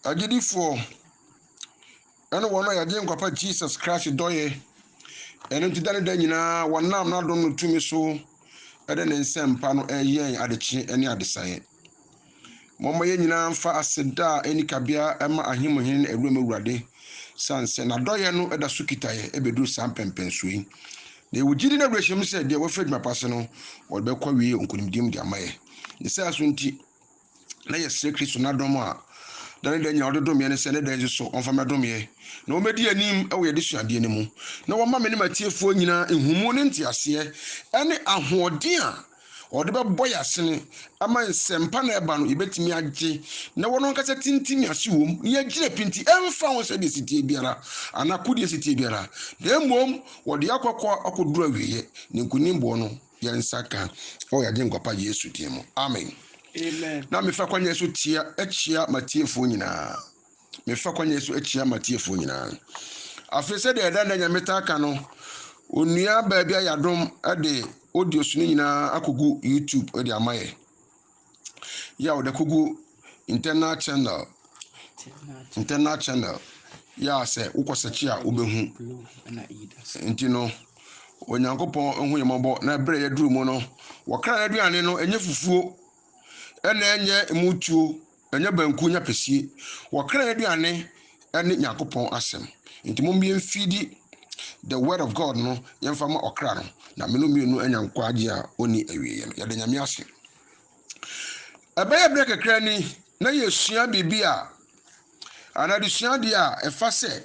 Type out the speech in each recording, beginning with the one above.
Agyidifoɔ ɛne wɔn a yɛagye nkwa pa Jesus Christ dɔeɛ. Ɛno nti da ne da nyinaa wɔnam n'adom no tumi so ɛde ne nsɛmpa no ɛyɛ yɛn adekye ɛne adesaeɛ. Momma yɛn nyinaa mfa aseda a ɛni kabea ɛma Ahemuhene ne Awuram Awurade sane sɛ n'adɔeɛ no ɛda so kita yɛn ɛbɛduru saa mpɛmpɛnsoɔ yi. Na yɛwɔ gyidi ne awerɛhyɛm sɛ deɛ wɔafiri adwuma pa ase no wɔde bɛkɔ awie nkonimdie mu de ama yɛn. Ne saa so nti, na yɛsrɛ Kristo n'adom a da ne da nyinaa ɔde dom yɛn no sɛ ne da nso so ɔmfa mmɛdom yɛn, na wɔmmɛdi anim wɔ yɛn adesuadeɛ no mu, na wɔmma me ne m'atiefoɔ nyinaa nhumu ne nteaseɛ ne ahoɔden a ɔde bɛbɔ yɛn asene ama nsɛmpa na ɛba no yɛbɛtumi agye na wɔn ankasa tintim yɛn ase wom na yɛagyina pinti ɛmfa ho sɛdeɛ sitie biara anaa kodeɛ sitie biara na mmom wɔde akɔkɔ akɔduru awieɛ ne nkonimboɔ no Yɛn nsa ka wɔ yɛn Agyenkwa-pa Yesu din mu, amen. Na mefa kwan yi so tia akyia m'atiefoɔ nyinaa. Mefa kwan yi so akyia m'atiefoɔ nyinaa. Afei sɛdeɛ ɛda nnɛ nyame taa ka no, onua baabi ayɛ adom de audios no nyinaa akɔgu YouTube de ama yɛ. yɛ a wɔde kogu internal channel internal channel yɛ a sɛ wokɔ sɛkyi a wobɛhu nti no onyankopɔn ho yɛ mmɔbɔ na ɛberɛ yɛduru mu no wɔkra no aduane no ɛnyɛ fufuo ɛna ɛnyɛ mutuo ɛnyɛ banku nyɛ pɛsie wɔkra no aduane ɛne Nyankopɔn asɛm nti mommie mfeedi the word of God no yɛmfa ma ɔkra no na meno mmienu anya nkwagye a ɔnni awieɛ no yɛda Nyame ase ɛbɛyɛ berɛ kakra ni na yɛsua biribi a anaa desua adeɛ a ɛfa sɛ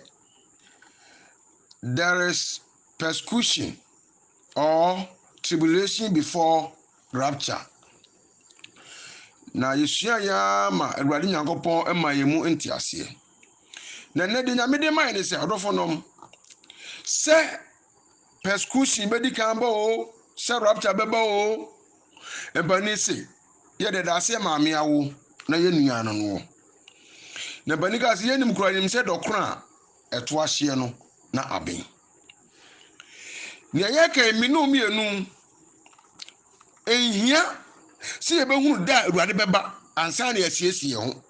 there is persecution or tribulation before rapture. Na yɛsua yɛ ara ma Awurade Nyankopɔn ma yɛn mu nteaseɛ. Na ɛnɛ deɛ Nyame de ma yɛn ne sɛ, ɔdɔfo nom, sɛ persecution bɛdi kan ba o, sɛ rapture bɛba o, mpanin se, yɛde da aseɛ maame awo na yɛn nua no noɔ. Na mpanin kaa sɛ, yɛnim kura yɛnim sɛ dɔkono a ɛto ahyeɛ no na aben. Nea yɛreka yi, me ne mmienu, nhia sɛ yɛbɛhunu da a Awurade bɛba ansa na yɛasiesie yɛn ho.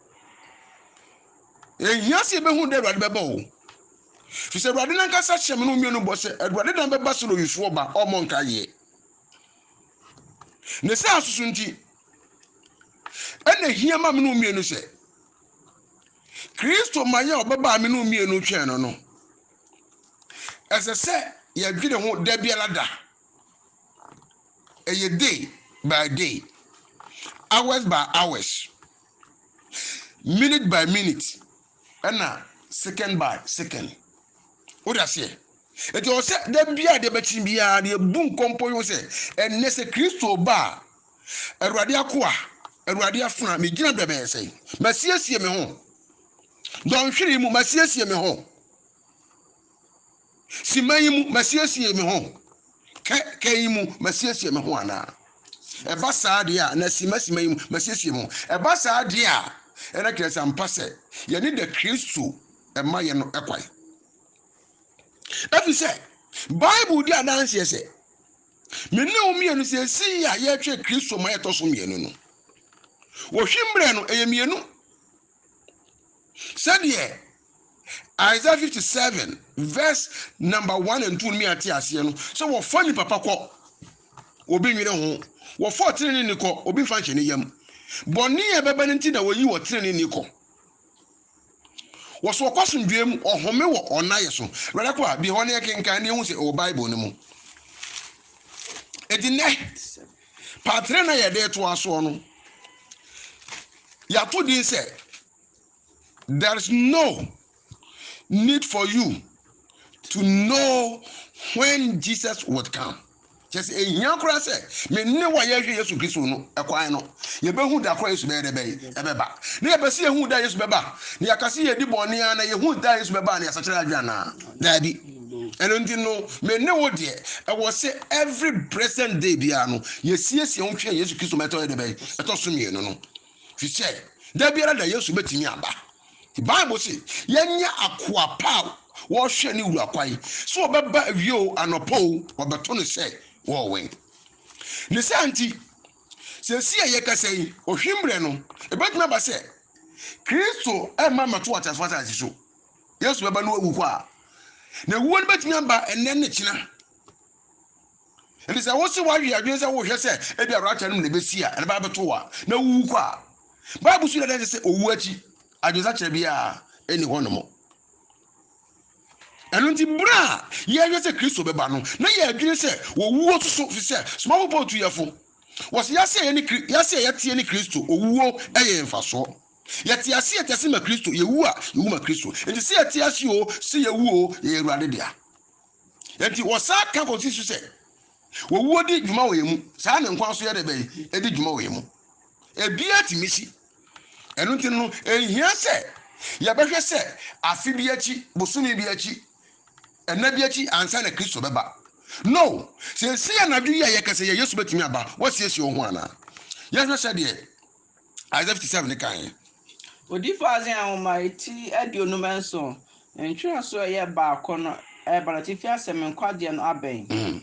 Nhia sɛ yɛbɛhunu da a Awurade bɛba o. Fi sɛ Awurade nankasa hyɛ me ne mmienu bɔ sɛ Awurade dan bɛba sɛ owifoɔ ba ɔmmɔ nka yeɛ. Ne saa nso so nti, ɛna hia ma me ne mmienu sɛ Kristo ma yɛ ɔbɛba a me ne mmienu twɛn no no, Ɛsɛ sɛ yɛdwene ho da biara da. Ɛyɛ day by day, hours by hours, minute by minute, ɛna second by second. Wode aseɛ? Enti ɔwɔ sɛ da biara deɛ bɛkyi biara deɛ bu nkɔmpɔ yi ho sɛ ɛnnɛ sɛ Kristo ba a, Awurade akoa, Awurade afena, megyina bɛbɛɛsɛe, masiesie me ho. Dɔnhwere yi mu, masiesie me ho. Simma yi mu, masiesie me ho. Kɛkɛ yi mu, masiesie me ho anaa? Ɛba saa deɛ a, na simma simma yi mu, masiesie me ho. Ɛba saa deɛ a, ɛna kyerɛ sɛ ampa sɛ yɛne da Kristo ma yɛ no kwan. Ɛfiri sɛ, Bible di adanseɛ sɛ, me ne wo mmienu seesei a yɛretwɛn Kristo ma yɛtɔ so mmienu no, wɔhwe mmerɛ no, ɛyɛ mmienu. Sɛdeɛ Isaiah 57 verse number 1 and 2 no mi ate aseɛ no, sɛ wɔfa nnipa pa kɔ, obi nwene ho, wɔfa ɔtenene ni kɔ, obi mfa nhyɛ ne yam. Bɔne a ɛbɛba no nti na wɔyi ɔtenene ni kɔ. Wɔso ɔkɔ asomdwoeɛ mu, ɔhome wɔ ɔnayɛ so. Wɛrɛ kɔ a, bi hɔ ne ɛkenkan ne ɛhu sɛ ɛwɔ Bible no mu. Ɛti nɛ, Patere no a yɛde retoa soɔ no, yɛato din sɛ There is no need for you to know when Jesus would come. Kyɛ sɛ ehia koraa sɛ me ne wo a yɛhwɛ Yesu Kristo no kwan no, yɛbɛhu da koraa Yesu bɛyɛ dɛ bɛyɛ ɛbɛba. Na yɛpɛ sɛ yɛhu da Yesu bɛba, na yɛaka sɛ yɛdi bɔne a na yɛhu da Yesu bɛba a na yɛsakyera adwene anaa? Daabi. ɛno nti no me ne wo deɛ ɛwɔ sɛ every present day biara no yɛsiesie ho twɛn yesu kristo ma ɛtɔ yɛ dɛ bɛn ɛtɔ so mmienu no fi sɛ da biara da yesu bɛtumi aba bible se yɛnyɛ akoa pa a wɔhwɛ ne wura kwan sɛ ɔbɛba awie o anɔpɔ o ɔbɛto no sɛ wɔwɛn ne saa nti sɛsi a yɛkasa yi ɔhwemmerɛ no ɛbɛtumi aba sɛ kristo ɛma mɛto ateasefoɔ asase so Yesu bɛba no awu kwa. Na ewuo no bɛtumi aba ɛnɛ ne kyena. Ɛnti sɛ wo se woawe adwene sɛ wohwɛ sɛ ebi a rapture no mu na ɛbɛsi a, ɛno bɛba bɛto wa na wowu kwa. Bible so yɛdɛ sɛ owu akyi adwensakyerɛ biara ɛni hɔ nom. Ɛno nti berɛ a yɛhwɛ sɛ Kristo bɛba no na yɛadwene sɛ wɔwuo soso fi sɛ somafo Paul tu yɛfo wɔse yɛase a yɛne yɛase a yɛteɛ ne Kristo owuo ɛyɛ mfasoɔ. Yɛte ase a, yɛte ma Kristo, yɛwu a, yɛwu ma Kristo. Enti sɛ yɛte ase o, sɛ yɛwu o, yɛyɛ Awurade dea. Enti wɔsan ka kɔsi so sɛ, wɔwuo di dwuma wɔ yɛn mu, saa ne nkwa nso yɛ dɛ bɛn, ɛdi dwuma wɔ yɛn mu. Ebiara tumi si. Ɛno nti no, ɛnhia sɛ yɛbɛhwɛ sɛ afe bi akyi, bosome bi akyi, ɛna bi akyi ansa na Kristo bɛba. No, seesei anadwo yi a yɛkasa yi a Yesu bɛtumi aba, woasiesie wo ho anaa? Yɛnhwɛ sɛdeɛ Isaiah 57 no kae. Odiyifo Isaiah nhoma ti aduonum nson nkyerɛwso a ɛyɛ baako no reba no, atifi asɛm ne nkwagyeɛ no abɛn.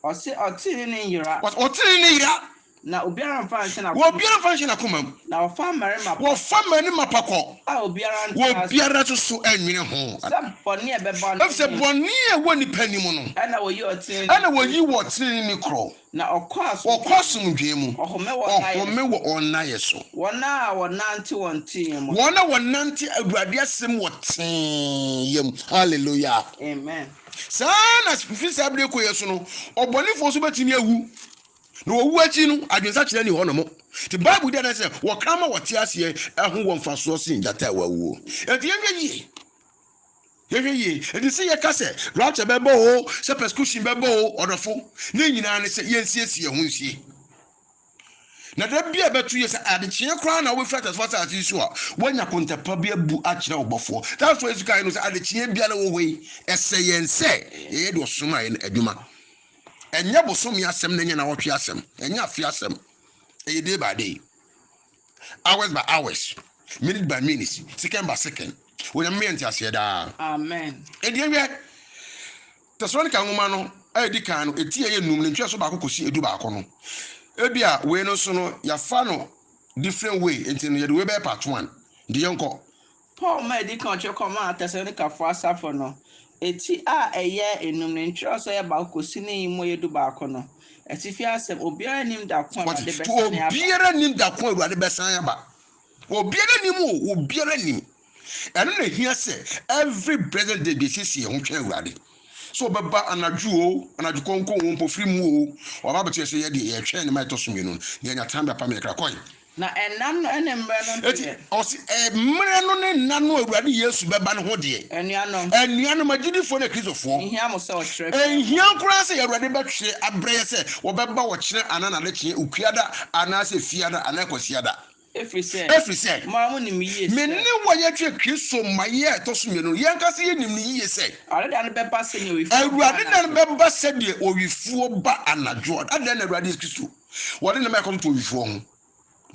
Ɔse, Ɔtenenee ne nyera. Ɔse, Ɔtenenee ne nyera. Na obiara mfa nhyɛ n'akoma mu. Obiara mfa nhyɛ n'akoma mu. Na wɔfa mmarima pa. Wɔfa mmarima pa kɔ. A obiara ntra ase. Obiara nso so nnwene ho. Sɛ bɔne a ɛbɛba no. Efisɛ bɔne a ɛwɔ nnipa anim no. Ɛna wɔyi ɔtenenee. Ɛna wɔyi ɔtenenee korɔ. Na ɔkɔ asomdwoe mu. Ɔhome wɔ wɔn nnaeɛ so. Wɔn a wɔnante wɔn teeyɛ mu. Wɔn a wɔnante Awurade asɛm wɔ teeyɛ mu. Hallelujah. Amen. Saa ara na fi saa bere kɔ yɛ so no, ɔbɔnefoɔ nso bɛtumi awu. Na wɔwu akyi no, adwensakyera nni hɔ nom. Nti Bible di adanse sɛ wɔkra ma wɔte aseɛ ho wɔ mfasoɔ sen gyata a wawuo. Enti yɛnhwɛ yie Yɛhwɛ yie. Enti sɛ yɛka sɛ rapture bɛba oo, sɛ persecution bɛba oo, ɔdɔfo, ne nyinaa ne sɛ yɛnsiesie yɛn ho nsie. Na da bi a ɛbɛto yɛ sɛ adekyeɛ koraa na wobɛfiri atasefo asase yi so a, woanya kontapa bi abu akyerɛ wo bɔfoɔ. That's why Yesu kae no sɛ adekyeɛ biara wɔ hɔ yi, ɛsɛ yɛn sɛ yɛyɛ deɛ ɔsomaeɛ no adwuma. Ɛnyɛ bosome asɛm na ɛnyɛ nawɔtwe asɛm, ɛnyɛ afe asɛm. Ɛyɛ day by day. Hours by hours, minute by minutes, second by second. Onyame meyɛ nteaseɛ daa. Amen. Ɛdeɛ hwɛ, Tessalonica nwoma no a ɛdi kan no, ɛti a ɛyɛ num, ne ntwerɛso baako kɔsi ɛdu baako no, ebi a wei no nso no, yɛafa no different way, nti no yɛde wei bɛyɛ part one, nti yɛnkɔ, Paul ma edi kan kyerɛw kɔmaa Tesalonikafo asafo no. Eti a ɛyɛ nnum ne nkyerɛwsɛ a ɛyɛ baako kosi ne yi mu a ɛyɛ dubaako no. Atifi asɛm, Obiara nnim da ko a Awurade bɛsan aba. Wɔate? Obiara nnim da ko a Awurade bɛsan aba. Obiara nnim o, obiara nnim. Ɛno na ehia sɛ every blessed day yɛsiesie yɛn ho twɛn Awurade. Sɛ ɔbɛba anadwo o, anadwo kɔnkɔn o, mpofirim o, waba abɛto yɛn so yɛ deɛ yɛtwɛn ne ma ɛtɔ so mmienu no, na yɛanya time de apam yɛn kra. Kɔe. Na nna no ne mmerɛ no deɛ. Enti, ɔse, mmerɛ no ne nna no a Awurade Yesu bɛba no ho deɛ. Anuanom. Anuanom agyidifoɔ ne Kristofoɔ. Nhia mo sɛ ɔkyerɛ biara. Nhia koraa sɛ Awurade bɛtwerɛ abrɛ yɛ sɛ ɔbɛba ɔkyena anaa nadekyeɛ, Okuada anaa sɛ Fiada anaa Kwasiada. Ɛfiri sɛ. Ɛfiri sɛ. Mo ara monim yie sɛ. Me ne wo a yɛtwerɛ Kristo mmaeɛ a ɛtɔ so mmienu no, yɛn ankasa yɛnim no yie sɛ. Awurade da no bɛba sɛdeɛ owifoɔ ba anadwo. Awurade da no bɛba sɛdeɛ owifoɔ ba anadwo. Adɛn na Awurade Yesu Kristo. wɔde nneɛma a ɛkɔm to owifoɔ ho,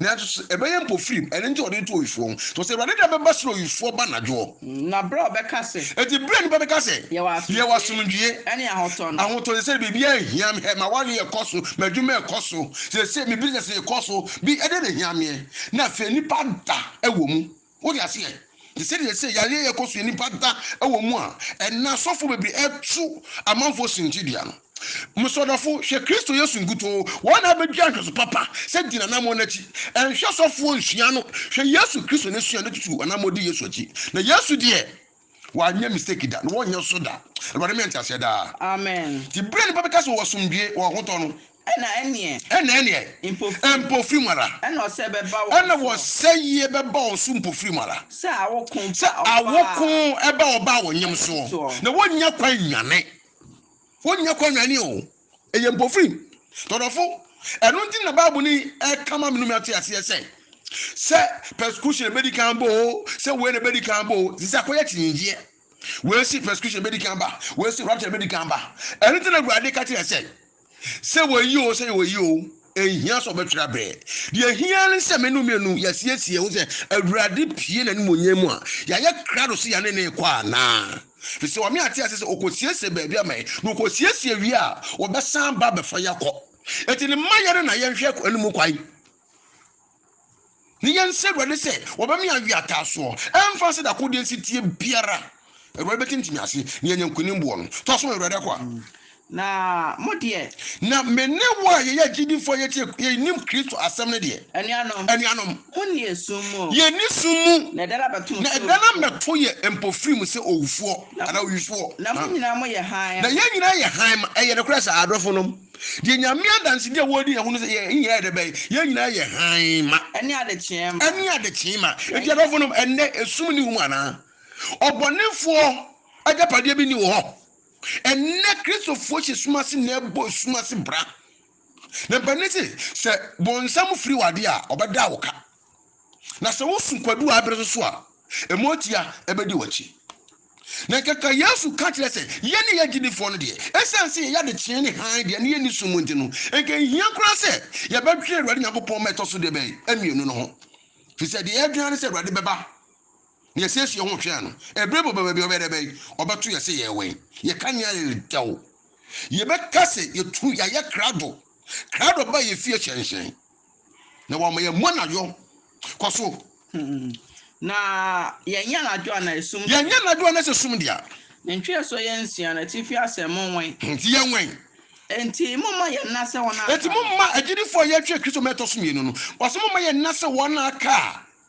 nanso so ɛbɛyɛ mpofirim, ɛno nti a wɔde to owifoɔ ho? Nanso Awurade da bɛba sene owifoɔ ba anadwoɔ. Na berɛ a ɔbɛka sɛ. Enti berɛ a nnipa bɛka sɛ. Yɛwɔ asomdwoeɛ. Ɛne ahotɔ no. Ahotɔ no sɛ biribiara nhia me, hɛ, m'awareɛ rekɔ so, m'adwuma rekɔ so, seesei me business rekɔ so, bi, ɛdeɛ na ɛhia meɛ. Na afei nnipa da wɔ mu. Wote aseɛ? Te sɛ deɛ sɛ yareɛ yɛ kɔ so yɛ nnipa da wɔ mu a, ɛnna asɔfoɔ bebree ɛtu amanfoɔ sinkye dua no. Mesɔ dɔfo, hwɛ Kristo Yesu nkutoo, wɔn na abɛdua nhwɛso papa sɛ di n'anammɔn no akyi. Ɛnhwɛ sɔfoɔ nsua no, hwɛ Yesu Kristo n'asuade tutu anammɔn di Yesu akyi. Na Yesu deɛ. Wanyɛ mistake da, na wɔrenyɛ nso da. Awurade manya nteaseɛ daa. Amen. Nti berɛ a nnipa bɛka sɛ wɔ asomdwoeɛ, wɔ ahotɔ no. Ɛna ɛnneɛ. Ɛna ɛnneɛ. Mpofirim. Mpofirim ara. Ɛna ɔsɛeɛ bɛba wɔn so. Ɛna ɔsɛeɛ bɛba wɔn so mpofirim ara. Sɛ awoko ba ɔbaa. Sɛ awoko ba ɔbaa wɔn yam soɔ. Na wɔnnya kwan nnwane. Wɔnnya kwan nnwane o. Ɛyɛ mpofirim. Tɔdɔfo, ɛno nti na Bible ni ɛka ma menome ate aseɛ sɛ, sɛ persecution ɛbɛdi kan bɔ o, sɛ wei na ɛbɛdi kan bɔ o, ɛsɛ sɛ akɔyɛ kyinnyegyeɛ. Wei si persecution ɛbɛdi kan ba, wei si rapture ɛbɛdi kan ba. Ɛno nti na Awurade ka kyerɛ sɛ, sɛ wɔyi o, sɛ wɔyi o. Enhia sɛ ɔbɛtwerɛ abrɛ. Deɛ ehia ne sɛ me ne wo mmienu yɛasiesie ho sɛ Awurade pue n'animuonyam mu a, yɛayɛ krado sɛ yɛne no rekɔ anaa. Ɛfiri sɛ Ɔne ate aseɛ sɛ ɔkɔsiesie baabi ama yɛn, na ɔkɔsiesie wie a, ɔbɛsan aba abɛfa yɛn akɔ. Enti no mma yɛn na yɛnhwɛ anim kwan. Ne yɛn nsrɛ Awurade sɛ wɔbɛma yɛn awe ataasoɔ. Ɛmfa sɛ dako deɛ nsi tie biara. Awurade bɛtintimi ase na yɛanya nkonim boɔ no. To aso ma Awurade akoa. Na mo deɛ. Na me ne wo a yɛyɛ agyidifoɔ a yɛtie yɛnim Kristo asɛm no deɛ. Anuanom. Anuanom. Monni yɛn sum mu. Yɛnni sum mu. Na ɛda no abɛto mo sɛ owufoɔ. Na ɛda no abɛto yɛ mpofirim mu sɛ owufoɔ anaa owisoɔ. Na mo nyinaa moyɛ hann. Na yɛn nyinaa yɛ hann ma. Ɛyɛ nokorɛ saa, adɔfonom? Deɛ Nyame adansedi a wɔredi ne ho no sɛ yɛn nyinaa yɛ dɛ bɛn? Yɛn nyinaa yɛ hann ma. Ɛne adekyee ma. Ɛne adekyee ma. Enti adɔfo nom, ɛnnɛ esum nni ho mu anaa? Ɔbɔnefoɔ agyapadeɛ bi nni wo hɔ? Ɛnnɛ Kristofoɔ hyɛ sum ase na ɛbɔ esum ase bra. Na mpanin se, sɛ bonsam firi w'adeɛ a, ɔbɛda wo ka. Na sɛ wosu kwadu a ɛbere so so a, ɛmu atua bɛdi w'akyi. Na kɛkɛ Yesu ka kyerɛ sɛ yɛne yɛn agyidifoɔ no deɛ, ɛsiane sɛ yɛyɛ adekyee ne hann deɛ na yɛnni sum mu nti no, nka nhia koraa sɛ yɛbɛdwene Awurade Nyankopɔn ma ɛtɔ so deɛ bɛn? mmienu no ho. Ɛfiri sɛ deɛ yɛdwene ara ne sɛ Awurade bɛba na yɛasiesie yɛn ho retwɛn no. Ɛberɛ bi ɔba baabi a ɔbɛyɛ dɛ bɛn? Ɔbɛto yɛn sɛ yɛwɛn. Yɛka nea yɛ dɛw. Yɛbɛka sɛ yɛtu yɛayɛ krado. Krado ba yɛfie hyɛnhyɛn. Na wɔma yɛn mu anadwo. Kɔ so. Hmm. Na yɛnyɛ anadwo a na esum. Yɛnyɛ anadwo a na sɛ sum dea. Ne ntwerɛsoɔ yɛ nsia, n'atifi asɛm monwɛn. Enti yɛnwɛn. Enti momma yɛnna sɛ wɔn a aka no. Enti momma agyidifoɔ a yɛatwerɛ Kristo mmɛ ɛtɔ so mmienu no. Ɔse momma yɛnna sɛ wɔn a aka a.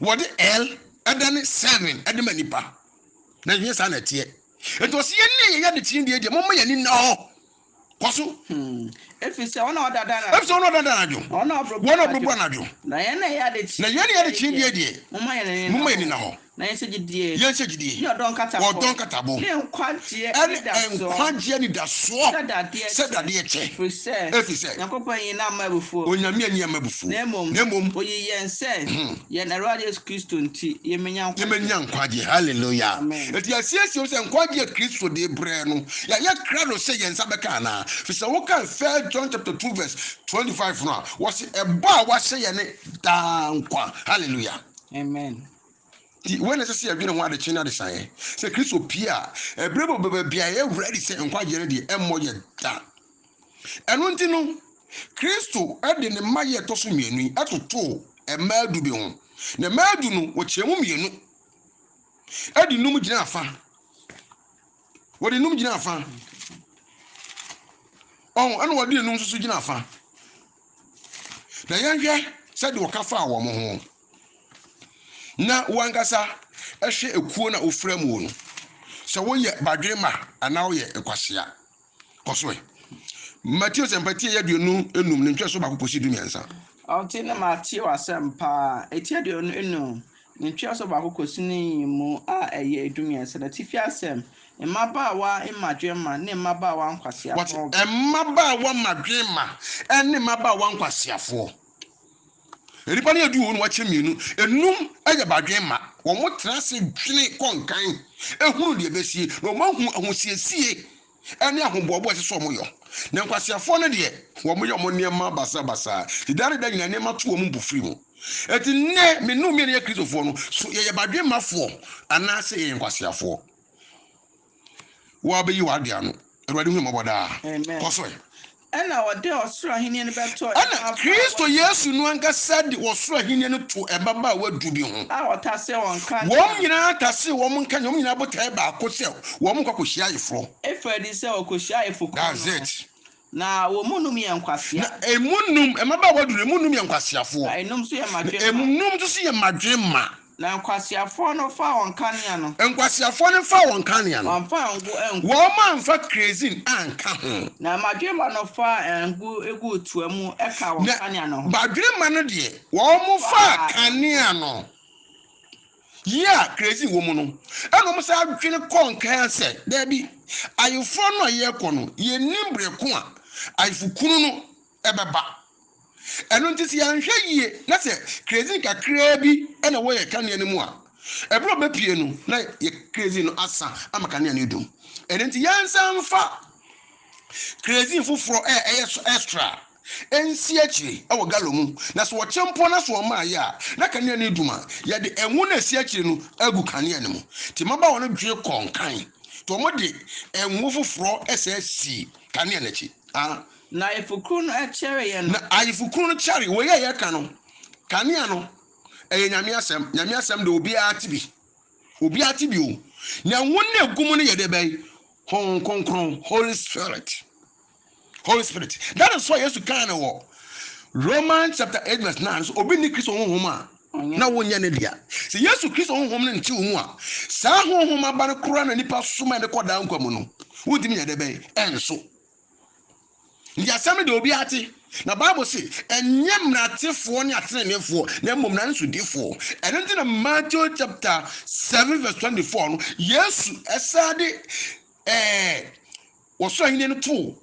Wɔde El dane Seven de ma nnipa, na nhwɛ saa na ɛteɛ. Enti ɔse yɛnni yɛyɛ ade tiri deɛ deɛ momma yɛn ani nna hɔ. Kɔ so. Hmm. Ɛfiri sɛ wɔn a wɔdada anadwo. Ɛfiri sɛ wɔn a wɔdada anadwo. Na wɔn a wɔbrobro anadwo. Na yɛn na yɛyɛ ade tiri. Na yɛn na yɛyɛ ade tiri deɛ deɛ. Momma yɛn ani nna hɔ. Na yɛnhyɛ gyidie. Yɛnhyɛ gyidie. Ne ɔdɔ nkatabo. Ɔdɔ nkatabo. Ne nkwa. Ɛne nkwagyeɛ anidasoɔ sɛ dadeɛ kyɛ, ɛfiri sɛ Onyame anni amma abufuo, na mmom yɛbɛnya nkwagyeɛ. Hallelua! Enti yɛasiesie wo sɛ nkwagyeɛ a Kristo de brɛɛ no, yɛayɛ krado sɛ yɛn nsa bɛka anaa? Firi sɛ wokan 1 John chapter 2 verse 25 no a, wɔse ɛbɔ a wahyɛ yɛ ne daa nkwa. Hallelua! Amen. Nti, wei na ɛsɛ sɛ yɛdwene ho adekyee ne adesaeɛ, sɛ Kristo pue a, ɛberɛ bi ɔbɛba bi a, yɛyɛ ready sɛ nkwagyeɛ no deɛ ɛmmɔ yɛn da. Ɛno nti no, Kristo de ne mma yɛ ɛtɔ so mmienu yi totoo mmaa du bi ho, na mmaa du no, wɔkyɛɛ mu mmienu de nnum gyinaa fa. Wɔde nnum gyinaa fa. Ɔho, ɛna wɔde nnum nso gyinaa fa. Na yɛnhwɛ sɛdeɛ ɔka faa wɔn ho. Na wo ankasa hwɛ ekuo na wofra muo no, sɛ woyɛ badwemma anaa woyɛ nkwasea. Kɔ so ɛ. Mateo sɛmpa tieyɛ aduonu enum ne ntwerɛsoɔ baako kɔsi du mmiɛnsa. Ɔte ne Mateo asɛmpa a ɛti aduonu enum Ne ntweaso baako kosi ne mmamu a ɛyɛ dummiɛnsa no atifi asɛm, Mmabaawa mmadwemma ne mmabaawa nkwaseafoɔ. Wɔte mmabaawa mmadwemma ne mmabaawa nkwaseafoɔ. Nnipa no yɛ du wɔ mu na wɔakyɛ mmienu. Nnum yɛ badwemma. Wɔtra ase dwene kɔ nkan, hunu deɛ ɛbɛsie, na wɔahu ahosiesie ɛne ahoboabo a ɛsɛ sɛ wɔyɔ. Na nkwaseafoɔ no deɛ, wɔyɛ wɔn nneɛma basabasa, de da ne da nyinaa nneɛma to wɔn mpofiri mu. Enti nnɛ, me ne wo mmienu a yɛyɛ Kristofoɔ no, so yɛyɛ badwemmafoɔ anaasɛ yɛyɛ nkwaseafoɔ? Woabɛyi w'adwene ano. Awurade hu yɛn mmɔbɔ daa. Kɔ so ɛ. Ɛnna ɔde ɔsoro ahenni no bɛtoo Ɛnna mmabaawa du Kristo Yesu no ankasa de ɔsoro ahenni no too mmabaawa du bi ho. a ɔtasee wɔn nka Wɔn nea. nyinaa tasee wɔn nka nea wɔn nyinaa botae baako sɛ wɔnkɔ akɔhyia ayeforɔ. Ɛfiri adi sɛ wɔkɔhyiaa ayeforɔkuo no That's no, it. na wɔn mu nnum yɛ nkwasea, Na emu nnum, mmabaawa du no, emu nnum yɛ nkwaseafoɔ, na nnum nso yɛ na mmadwemma. emu nnum nso so yɛ mmadwemma. Na nkwaseafoɔ no faa wɔn kanea no. Nkwaseafoɔ no faa wɔn kanea no. Wɔamfa ngo angu. Wɔamfa kerosene anka ho. Na badwemma no faa ngo guu toa mu kaa wɔn kanea no ho. Na badwemma no deɛ, wɔfaa kanea no yii a kerosene wɔ mu no, ɛnna wɔsan dwene kɔɔ nkan ara sɛ, Dabi, ayeforɔ no a yɛrekɔ no, yɛnnim berɛ ko a ayefokunu no ɛbɛba. Ɛno nti sɛ yɛanhwɛ yie na sɛ kerosene kakraa bi na ɛwɔ yɛn kanea no mu a, ɛberɛ a ɔbɛpue no na yɛ kerosene no asa ama kanea no adum. Ɛno nti yɛnsan mfa kerosene foforɔ a ɛyɛ so extra nsi akyire wɔ galɔn mu na sɛ ɔkyɛ mpo na sɛ ɔma ayɛ a na kanea no adum a, yɛde ngo no a ɛsi akyire no agu kanea no mu. Nti mmabaawa no dwe kɔ nkan nti wɔde ngo foforɔ sɛ si kanea no akyi. Ah. Na Ayefokunu no kyɛreeɛ no. Na Ayefokunu no kyɛree. Wei a yɛreka no, kanea no, ɛyɛ Nyame asɛm. Nyame asɛm deɛ obiara te bi. Obiara te bi o. Na ɛho na ɛgu mu no yɛ deɛ bɛn? Honhom Kronkron, Holy Spirit. Holy Spirit. That is why Yesu kaa no wɔ Romans chapter 8 verse 9 so, obi nni Kristo Honhom a, na wonyɛ ne dea. Sɛ Yesu Kristo Honhom no nte wo mu a, saa Honhom aba no koraa na nipa som a ɛde kɔ daa nkwa mu no, wontumi nyɛ deɛ bɛn? Ɛnso. Enti asɛm no de obiara te, na Bible se, ɛnyɛ mmaratefoɔ ne ateneneefoɔ, na mmom mmara no sodifoɔ. Ɛno nti na Matthew chapter 7 verse 24 no, Yesu ɛsaa de ɛɛ wɔsoro ahennie no too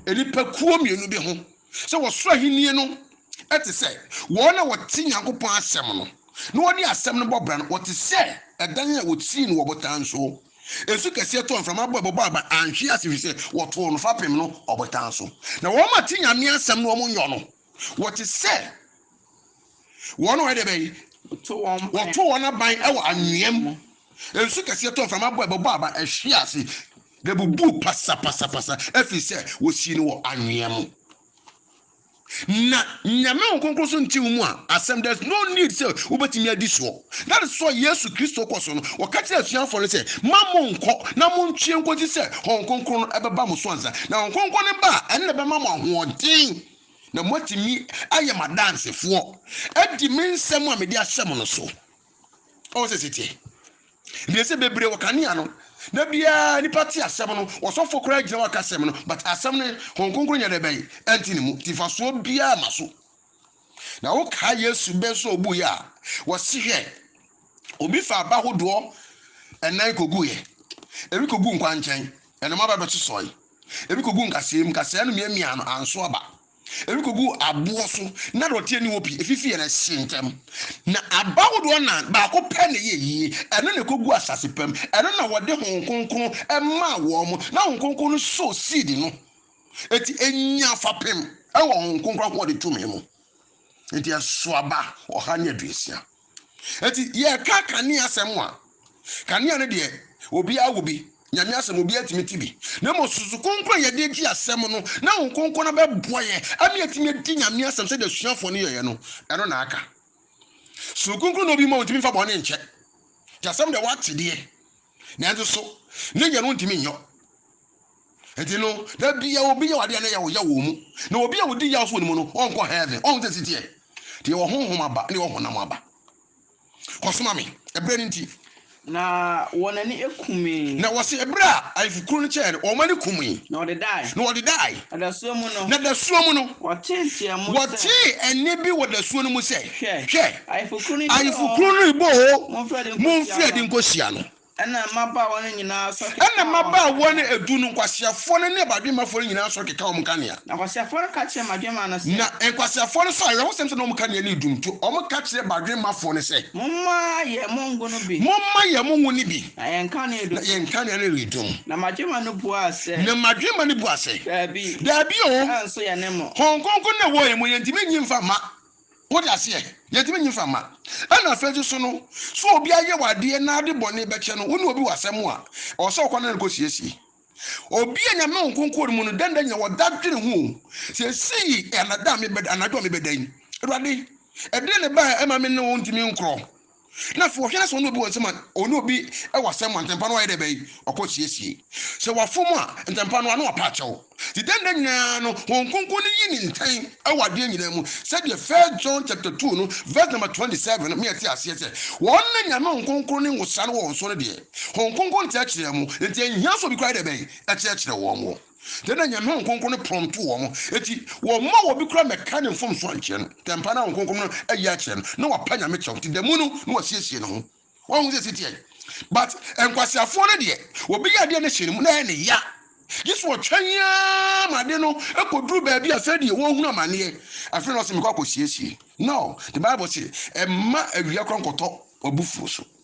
nnipakuo mmienu bi ho sɛ wɔsoro ahennie no ɛte sɛ wɔn a wɔte Nyankopɔn asɛm no na wɔde asɛm no bɔ bra no, wɔte sɛ ɛdan a wɔsii no wɔ botan so. Nsu kɛseɛ tɔɔ, mframa bɔe, bobɔɔ aban, anhwe ase, ɛfiri sɛ wɔtoo no fapem no ɔbotan so. Na wɔn a te Nyame asɛm no wɔn nyɔ no, wɔte sɛ wɔn a wɔyɛ deɛ bɛn? Wɔto wɔn aban wɔ anwea mu. Nsu kɛseɛ tɔɔ, mframa bɔe, bobɔɔ aban, ɛhwee ase, na ɛbubuu pasapasapasa, ɛfiri sɛ wɔsii no wɔ anwea mu. Na Nyame Honhom Kronkron so nte wo mu a, asɛm there is no need sɛ wobɛtumi adi soɔ. That is why Yesu Kristo kɔ so no, ɔka kyerɛ asuafoɔ no sɛ, ma mo nkɔ na mo ntwe nkɔsi sɛ Honhom Kronkron no bɛba mo so ansa. Na Honhom Kronkron no ba a, ɛno na ɛbɛma mo ahoɔden na moatumi ayɛ m'adansefoɔ, adi me nsɛm a mede ahyɛ mo no so. ɔwɔ sɛ siteɛ deɛ sɛ bebree wɔ kanea no na biara nipa te asɛm no ɔsɔfo koraa gyina waka asɛm no but asɛm no hɔn kronkron nyɛ dɛ bɛn ɛnti ne mu tifasoɔ biara ma so na wokaa yesu bɛ nso ɔbu yɛ a wɔsi hwɛ obi fa aba hodoɔ ɛnan kogu yɛ ebi kogu nkwankyɛn ɛnoma ba bɛsosɔe ebi kogu nkasɛɛ mu nkasɛɛ no miamia no anso aba Ɛrekɔgu aboɔ so, na dɔteɛ nni hɔ pii, ɛfifieɛ no ɛhye ntɛm. Na aba ahodoɔ nnan, baako pɛ na ɛyɛ yie, ɛno na ɛkɔgu asase pa mu, ɛno na wɔde Honhom Kronkron maa wɔn, na Honhom Kronkron no soo seed no, enti ɛnyaa fapem wɔ Honhom Kronkron ahoɔden tumi mu, enti ɛso aba ɔha ne aduosia. Enti yɛka kanea asɛm a, kanea no deɛ obiara wɔ bi, Nyame asɛm obiara tumi te bi, na mmom susu kronkron a yɛde gye asɛm no na Honhom Kronkron no bɛboa yɛ ama yɛatumi adi Nyame asɛm sɛdeɛ asuafoɔ no yɛeɛ no, ɛno na aka. Susu kronkron na obi ma ɔntumi mfa bɔne nkyɛ, nti asɛm deɛ wate deɛ, nanso so ne nyɛ no ɔntumi nyɔ. Enti no, da biara obi yaw ade a na yaw yaw wɔ mu, na obi a odi yaw so wɔ ne mu no, ɔnkɔ heaven. Ɔho sɛ ɛsi teɛ? Deɛ wɔ honhom aba ne wɔ honam aba. Kɔsoma me, ɛberɛ no nti. Na wɔn ani kumee. Na wɔse ɛberɛ a ayefokuro no kyɛɛ no, wɔn ani kumee. Na wɔdedae. Na wɔdedae. Na dasuo mu no. Na dasuo mu no. Wɔtee nteamu sɛ. Wɔtee ɛnne bi wɔ dasuo no mu sɛ. Hwɛ. Hwɛ. Ayefokuro no rebɔ oo. Ayefokuro no rebɔ oo. Monfiri adi nkɔhyia no. Monfiri adi nkɔhyia no. Ɛnna mmabaawa no nyinaa sɔre kekaa wɔn nkanea. Ɛnna mmabaawa no edu no, nkwaseafoɔ no ne badwemmafoɔ no nyinaa sɔre kekaa wɔn nkanea. Na nkwaseafoɔ no ka kyerɛɛ madwemma no sɛ. Na nkwaseafoɔ no sɔɔ awerɛhosɛm sɛ na wɔn nkanea no redum, nti wɔka kyerɛɛ badwemmafoɔ no sɛ. Momma yɛn mo ngo no bi. Momma yɛn mo ngo no bi. Na yɛn nkanea redum. Na yɛn nkanea no redum. Na madwemma no buaa sɛ. Na madwemma no buaa sɛ. Dabi. Dabi oo. Nanso yɛne mo. Honhom Kronkron na ɛwɔ yɛn mu, yɛntumi nnye mfa mma. Wode aseɛ? Yɛntumi nyi mfa mma. Ɛna afei nso so no, sɛ obi ayɛ wo adeɛ na ade bɔne bɛkyɛ no, wo ne obi wɔ asɛm a, ɛwɔ sɛ wokɔ ne ne kɔ siesie. Obi a Nyame Honhom Kronkron wɔ ne mu no, dɛn da nyina wɔda dwene ho o, seesei yɛ anada a mebɛda, anadwo a mebɛda yi, Awurade, ɛdeɛn na ɛbaeɛ a ɛma me ne wo ntumi nkorɔ? Na afei wɔhwɛ na sɛ ɔne obi wɔ nsɛm a, ɔne obi wɔ asɛm ma ntɛmpa no ayɛ dɛ bɛn, ɔkɔ siesie. Sɛ wafom a, ntɛmpa no a na wapa akyɛw. Nti dɛn da nyinaa no, Honhom Kronkron no yi ne ntɛn wɔ adeɛ nyinaa mu, sɛdeɛ First John chapter two no verse number twenty seven no ma yɛte aseɛ sɛ, wɔn na Nyame Honhom Kronkron ne nwosra no wɔ wɔn so no deɛ, Honhom Kronkron no kyerɛkyerɛ wɔn, nti ɛnhia sɛ obi koraa yɛ dɛ bɛn, ɛkyerɛkyerɛ wɔn. Dɛn na Nyame Honhom Kronkron no prɔmtoo wɔn? Enti, wɔmma obi koraa mmɛka ne mfomsoɔ nkyerɛ no. Dɛn paa na Honhom Kronkron no ayi akyerɛ no? Na wapa Nyame kyɛw, nti da mu no na wasiesie ne ho. Wahu sɛ ɛsi teɛ. But, nkwaseafoɔ no deɛ, obi yɛ adeɛ na ɛhyɛ ne mu, na ɛyɛ ne ya. Gye sɛ ɔtwɛn ara ma ade no kɔduru baabi a afei deɛ wahunu amaneɛ, afei na ɔse mekɔ akɔsiesie. No, the Bible se, Mma awia koraa nkɔtɔ w'abufuo so.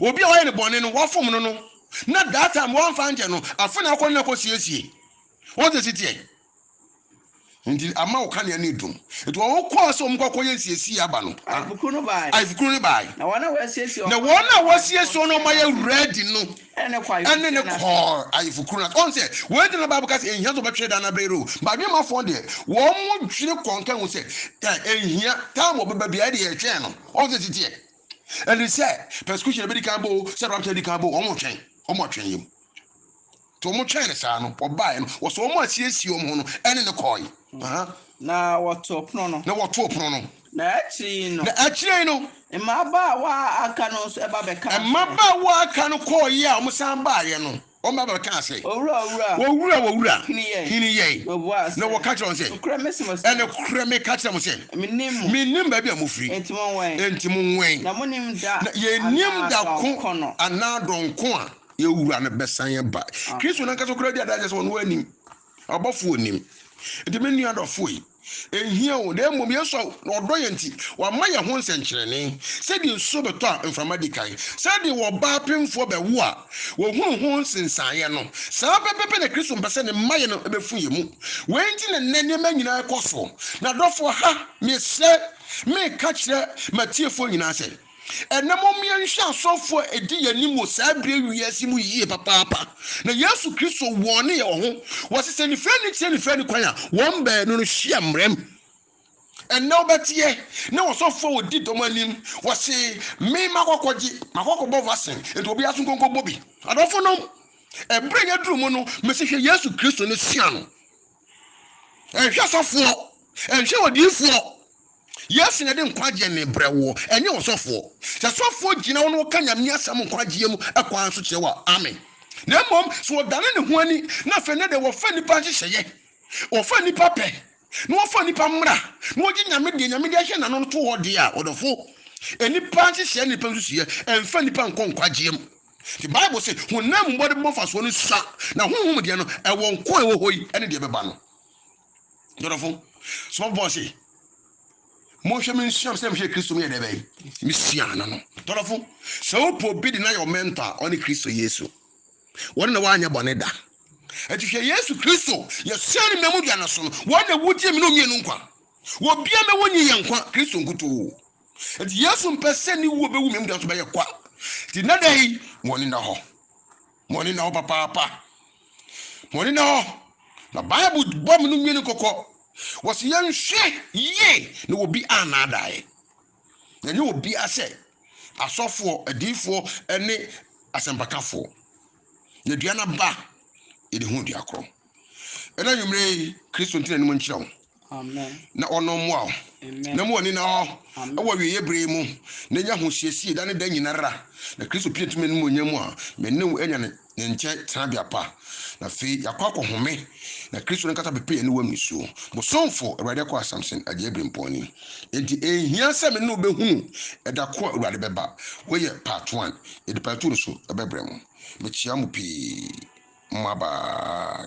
Obi a wɔayɛ no bɔne no, wɔafom no no, na that time wɔamfa ankyɛ no, afe na akɔ no na kɔsiesie. Wɔn sɛ si teɛ. Nti ama wo kanea no adum. Nti wɔn kɔɔ sɛ wɔn kɔ akɔyɛ nsiesie aba no. Ayefokuro no baae. Ayefokuro no baae. Na wɔn a wɔasiesie wɔn. Na wɔn a wɔasiesie wɔn na wɔn ayɛ ready no. Ɛne ne kɔ ayefokuro no ase. Ɛne ne kɔ ayefokuro no ase. Wɔn sɛ wɔn gyina Bible ka sɛ ehia sɛ wɔbɛtwere dan na bere o. Badwene ma fɔn deɛ wɔn dwene kɔnkɛn ho sɛ ehia time wɔbɛba biara ɛde yɛtwɛn no. Wɔn sɛ si teɛ. ɛne sɛ persecution bɛdi kan bɔ o sɛ rapture di kan bɔ wɔn twɛn wɔn ɔtwɛn yam nti wɔn twɛn ne saa no wɔbaeɛ no wɔsɛ wɔn asiesie wɔn ho no ɛne ne kɔɔe na wɔtoo pono no na wɔtoo pono no na akyire yi no na akyire yi no mmabaawa a aka no nso ɛba bɛka mmabaawa a aka no kɔɔeɛ a wɔsan baeɛ no Wɔn baabaa kaa sɛ, Owura, owura, Owura, owura, hini yɛn. hini yɛn. Na ɔbuaa sɛ, Na wɔka kyerɛɛ no sɛ, Nokorɛ mese mo sɛ, Ɛnokorɛ meka kyerɛ mo sɛ, mennim mo, mennim baabi a mofiri, enti monwɛn, enti monwɛn. na monnim da Na yɛnnim anaa da ko dɔnko no. anaa dɔnko a yɛn Wura no bɛsan aba. Amen. Kristo no ankasa koraa di adanseɛ sɛ ɔno ara nim. Abɔfoɔ nnim. Enti me nua dɔfoɔ yi, ɛnhia o, na mmom Yesu a ɔdɔ yɛn nti, wama yɛn ho nsɛnkyerɛnne, sɛdeɛ nsuo bɛtɔ a mframa di kan, sɛdeɛ ɔbaa pemfoɔ bɛwo a ɔhunu ho nsensaneɛ no, saa pɛpɛɛpɛ na Kristo mpɛ sɛ ne mma yɛ no bɛfu yɛn mu. Wei nti na nnɛ nneɛma nyinaa rekɔ soɔ. M'adɔfoɔ, ha, mesrɛ, mereka kyerɛ m'atiefoɔ nyinaa sɛ, Ɛnnɛ mom yɛnhwɛ asɔfo a edi yɛn anim wɔ saa bere wiase mu yiye papaapa. Na Yesu Kristo wɔne yɛn wɔ ho. Wɔse sɛ nifirani kyerɛ nifirani kwan a, wɔn baanu no hyia mmerɛm. Ɛnnɛ wobɛteɛ ne wɔsɔfo a wɔdi dɔm anim, wɔse me makɔkɔgye, makɔkɔbɔ vaccine, enti obiara nso nkonkɔbɔ bi. Adɔfonom, ɛbere a yɛaduru mu no, mese hwɛ Yesu Kristo ne sua no. Ɛnhwɛ sɔfoɔ, ɛnhwɛ odiyifoɔ. Yesu na ɛde nkwagyeɛ mebrɛ woɔ, ɛnyɛ ɔsɔfoɔ. Sɛ sɔfoɔ gyina wo na ɔka Nyame asɛm nkwagyeɛ mu ɛkwan so kyerɛ wo a, amen. Na mmom sɛ ɔdane ne ho ani na afei nɛ deɛ wɔfa nnipa nhyehyɛeɛ, wɔfa nnipa pɛ, na wɔfa nnipa mmra, na wɔgye Nyame deɛ Nyame deɛ hyɛ n'ano no to hɔ deɛ a, ɔdɔfo, nnipa nhyehyɛeɛ ne nnipa nsusuiɛ ɛmfa nnipa nkɔ nkwagyeɛ mu. Enti Bible se, Honam mu mmɔdenbɔ mfasoɔ no sua, na honhom deɛ no, ɛwɔ nkwa a ɛwɔ hɔ yi ne deɛ ɛbɛba no. Dɔdɔfo, Sɔfo Paul se, Monhwɛ me nsua me sɛdeɛ mehwɛɛ Kristo meyɛ dɛn bɛn? Mesuaa no no. Dɔdɔfo, sɛ wopo obi de no ayɛ wo mɛntɔ a, ɔne Kristo Yesu. Wɔne na wanyɛ bɔne da. Enti hwɛ Yesu Kristo, yɛsua ne mmamu dua no so no, wɔne na wogyee me ne wo mmienu nkwa. Obiara mma wonnye yɛn nkwa, Kristo nkutoo. Enti Yesu mpɛ sɛ ne wuo bɛwu me mu da so bɛyɛ kwa. Enti nnɛ da yi, ma ɔne nna hɔ. Ma ɔne nna hɔ papaapa. Ma ɔne nna hɔ. Na Bible bɔ me no nwene kɔkɔ. Wɔsi yɛnhwɛ yie na obi annaadaeɛ. Yɛnyɛ obiara sɛ asɔfoɔ, adiifoɔ ne asɛmpakafoɔ. Na dua no aba a, yɛde hu dua korɔ. Ɛna nwummere yi, Kristo ntena anim nkyerɛ wo. Na ɔno mmoa wo. Na mu ɔne na hɔ ɛwɔ awieeɛ berɛ mu. Na nya ho siesie da ne da nyinara. Na Kristo pie tumi anim onyam mu a, me ne wo anya ne nkyɛn tenabea pa. Na afei yɛakɔ akɔhome. Na Kristo no nkasa bɛpɛ yɛne wo am nsuo. Bosomfo, Awurade akɔ Asamson agyae birimpɔn ni. Enti ɛnhia sɛ me ne wo bɛhunu ɛda ko a Awurade bɛba. Wei yɛ part one. Yɛde patu no so bɛbrɛ mo. Mekyea mo pii, mo mmabaa.